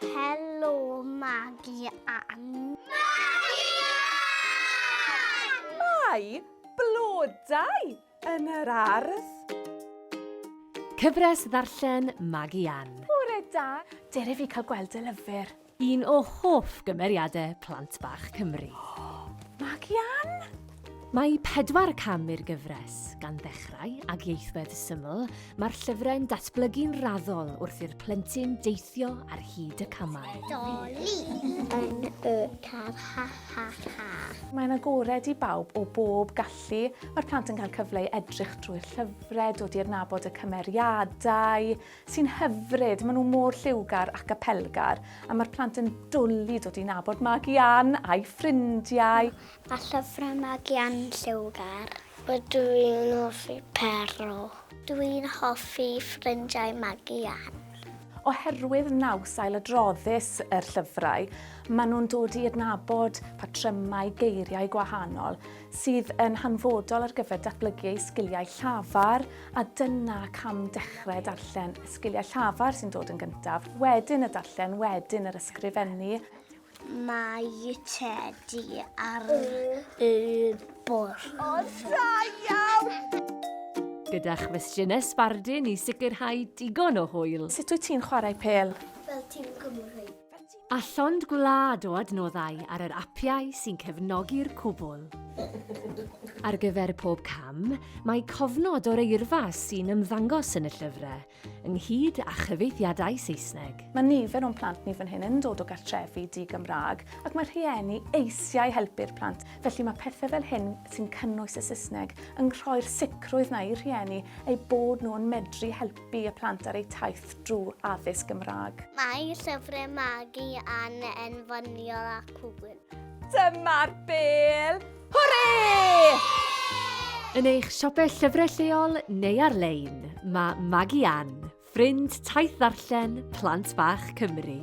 Helo, Magi Ann. Magi Ann! Mae blodau yn yr ardd. Cyfres ddarllen Magi Ann. Bore da. Dere fi cael gweld dy lyfr. Un o hoff gymeriadau plant bach Cymru. Magu Ann! Mae pedwar cam i'r gyfres, gan ddechrau ag ieithwedd syml, mae'r llyfrau'n datblygu'n raddol wrth i'r plentyn deithio ar hyd y camau. Doli! Yn y car, ha ha ha! Mae'n agored i bawb o bob gallu. Mae'r plant yn cael cyfle i edrych drwy'r llyfrau, dod i adnabod y cymeriadau, sy'n hyfryd, maen nhw mor lliwgar ac apelgar, a mae'r plant yn dwlu dod i nabod Magi Ann a'i ffrindiau. A llyfrau Magi Ann lliwgar. Dw i'n hoffi Pero. Dw i'n hoffi ffrindiau Magi Ann. Oherwydd naws ailadroddus yr llyfrau, maen nhw'n dod i adnabod patrymau geiriau gwahanol, sydd yn hanfodol ar gyfer datblygu eu sgiliau llafar, a dyna cam dechrau darllen y sgiliau llafar sy'n dod yn gyntaf, wedyn y darllen, wedyn yr ysgrifennu. Mae Teddy ar y bwrdd. O, da iawn! gyda chwestiynau sbardun i sicrhau digon o hwyl. Sut wyt ti'n chwarae pel? Fel tîm Cymru. A llond gwlad o adnoddau ar yr apiau sy'n cefnogi'r cwbl. Ar gyfer pob cam, mae cofnod o'r eirfa sy'n ymddangos yn y llyfrau, ynghyd â chyfieithiadau Saesneg. Mae nifer o'n plant ni fan hyn yn dod o gartrefi di-Gymraeg ac mae rhieni eisiau helpu'r plant, felly mae pethau fel hyn sy'n cynnwys y Saesneg yn rhoi'r sicrwydd 'na i'r rhieni eu bod nhw yn medru helpu helpu y plant ar eu taith drwy addysg Gymraeg. Mae llyfrau magu yn enfyniol a cŵl. Dyma'r bel! Hwre! Yn eich siopau llyfrau lleol neu ar-lein, mae Magu Ann, ffrind taith ddarllen Plant Bach Cymru.